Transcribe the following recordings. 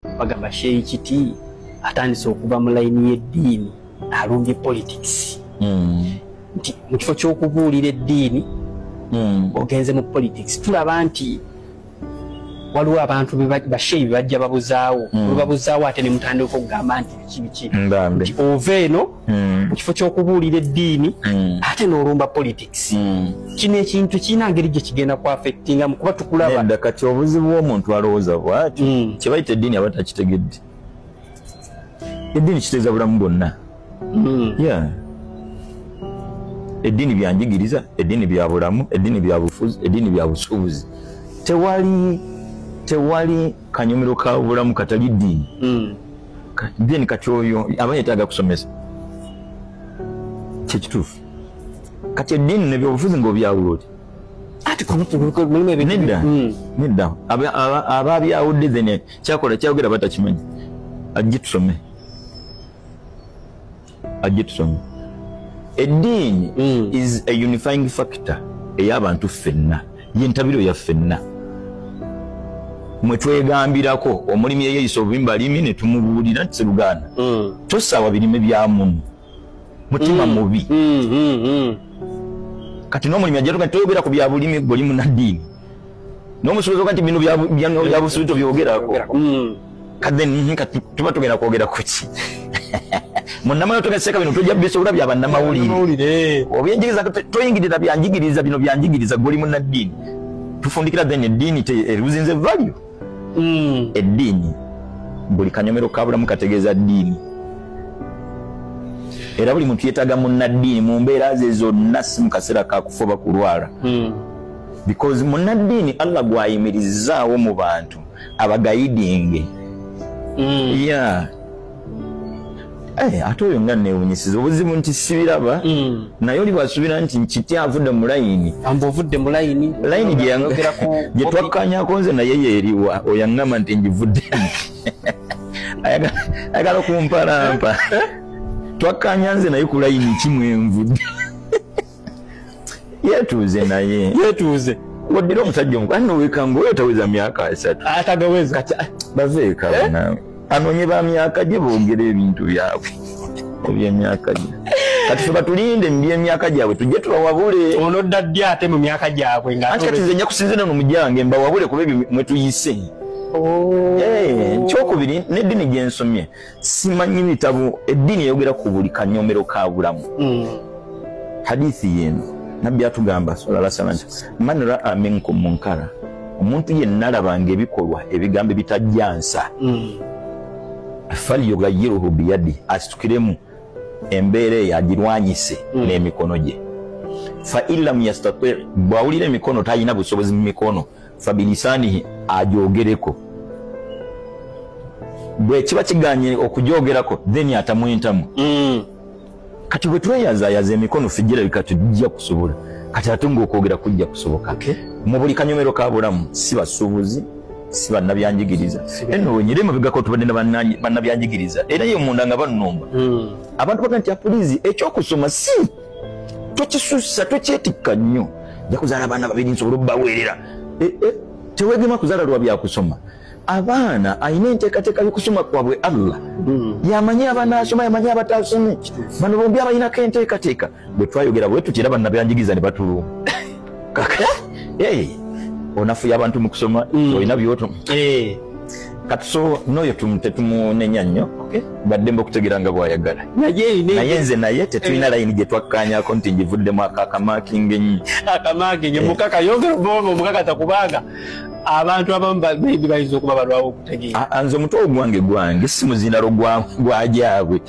bagamba sheyi kiti atandise okuva mu layini y'eddiini alumbye politics hmm. nti mu kifo ky'okubuulira eddiini hmm. ogenze mu politics tulaba nti waliwo abantu basheyi bebajja babuzaawo hmm. olubabuzaawo ate ne mutandika okugamba nti biki biki nti ova eno mm. mu kifo ky'okubuulira eddiini mm. ate n'olumba politics mm. kino ekintu kirina ngeri gye kigenda ku affectingamu kuba tukulaba kati obuzibu bw'omuntu alowooza bwati mm. kye bayita eddiini aba takitegedde eddiini kiteeza bulamu bwonna mm. yeah. eddiini byanjigiriza eddiini bya bulamu eddiini bya bufuzi eddiini bya busuubuzi tewali tewali kanyumiro ka bulamu katali ddiini mm. then kati oyo aba yetaaga kusomesa kyekituufu kati eddiini nebyobufuzi ngaobyawula oti nedda hmm. nedda aba abyawudde then kyakola kyayogera batakimanyi ajje tusome ajetusomi eddiini mm. is a unifying factor ey'abantu ffenna yentabiro ya ffenna mwetwegambirako omulimi eyeyisa obubimba limi netumubuulira nti seruganda mm. tosaawa birime bya muno mutima mm. mubi mm, kati n'omulimi ajatuka toyogera ku byabulimi golimunaddiini nomusubiza kati bino byabusubi tobyogerako hmm. kaden mhm, kati tuba tugenda kwogera kuki munamayo tugaseka bino tojja bisobola bya bannamawulire obyenjigiriza toyingirira byanjigiriza bino byanjigiriza goli munaddiini tufundikira then eddiini eruzinze value hmm. eddiini buli kanyomero kabulamu kategeeza ddiini era buli muntu yetaga munaddiini mu mbeera ze zonna si mu kaseera kakufa oba kulwala hmm. because munaddiini allah gwayimirizaawo mu bantu abagayidinge mm. yeah. hey, eh, ate oyo nga newunyisiza obuzibu nti sibiraba mm. naye oli bwasubira nti nkiti avudde mu layini amba ovudde mu layini layini gyetwakkanyako nze naye yeeriwa oyo aŋŋamba nti ngivuddemu ayagala okumpalampa eh? twakkanya nze naye ku layini kimwenvudde yetuuze naye yetuuze waddira omusajja omukazi nowekanga oyo taweza myaka asatu atagaweza kati ah, baveeka eh? banawe anoonye ba myaka gye boogera ebintu byabwe ebyemyaka gye kati fe batulinde mu byemyaka gyabwe tujje tubawabule ono dda ddi ate mu myaka gyabwe nga anti kati nze nja kusinzira no mujange mbawabule kuba ebyo mwetuyise oh. eh, ekyokubiri n'eddini gyensomye simanyi bitabo eddiini eyogera ku buli kanyomero ka bulamu hmm. hadithi yeeno nabbi atugamba salala sala nti man raa minkum munkara omuntu yenna alabanga ebikolwa ebigambo ebitajjansa hmm. falyugayiruhu biyadi asitukiremu embeera eyo agirwanyise hmm. n'emikono gye fa in lam yastati bw'awulira emikono talina busobozi mu mikono fabilisanihi ajogereko bwekiba kiganye okujogerako then atamu entamu mm. kati bwetweyazayaza emikono fijira bika tujja kusobola kati ate ngaokwogera kujja kusoboka okay. mu buli kanyomero ka bulamu si basuubuzi si bannabyanjigiriza eno wenyire mubigako tubadde na bannabyanjigiriza era ye munda nga bannomba mm. abantu baga nti apulizi ekyokusoma si tokisussa tokyetikka nnyo ja kuzaala abaana babiri nsobole obubaweerera eh, eh, tewegema kuzaala lwa byakusoma abaana alina enteekateeka y'okusoma kwabwe allah hmm. yamanyi abanaasoma yamanyi abataasome bano bombi abalinako enteekateeka bwe twayogera bwe tutera bannabyanjigiriza ne batuluma onafuya abantu mu kusoma mm. olina byoto eh. kati so noyo tetumunenya nnyo baddemba okutegera nga bwayagala naye nze naye tetulina eh. layini gye twakkanyako nti ngivuddemu akakamakinga ennyo akamakinga eh. mukaka yongera obonga omukakata kubanga abantu abamu maybe bayinza okuba balwawo okutegeera nze omutwe ogwange gwange si muzinalo gwajaabwe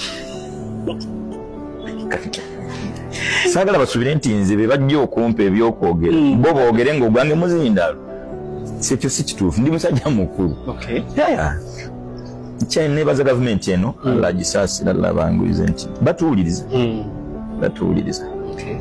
saagala basubire nti nze be bajja okumpa ebyokwogera hmm. bo boogere ngaogwange muzindaalo kyekyo si kituufu ndi musajja mukulu kyenebaza gavumenti eno hmm. alagisaasira labanguize nti batuwuliriza hmm. batuwuliriza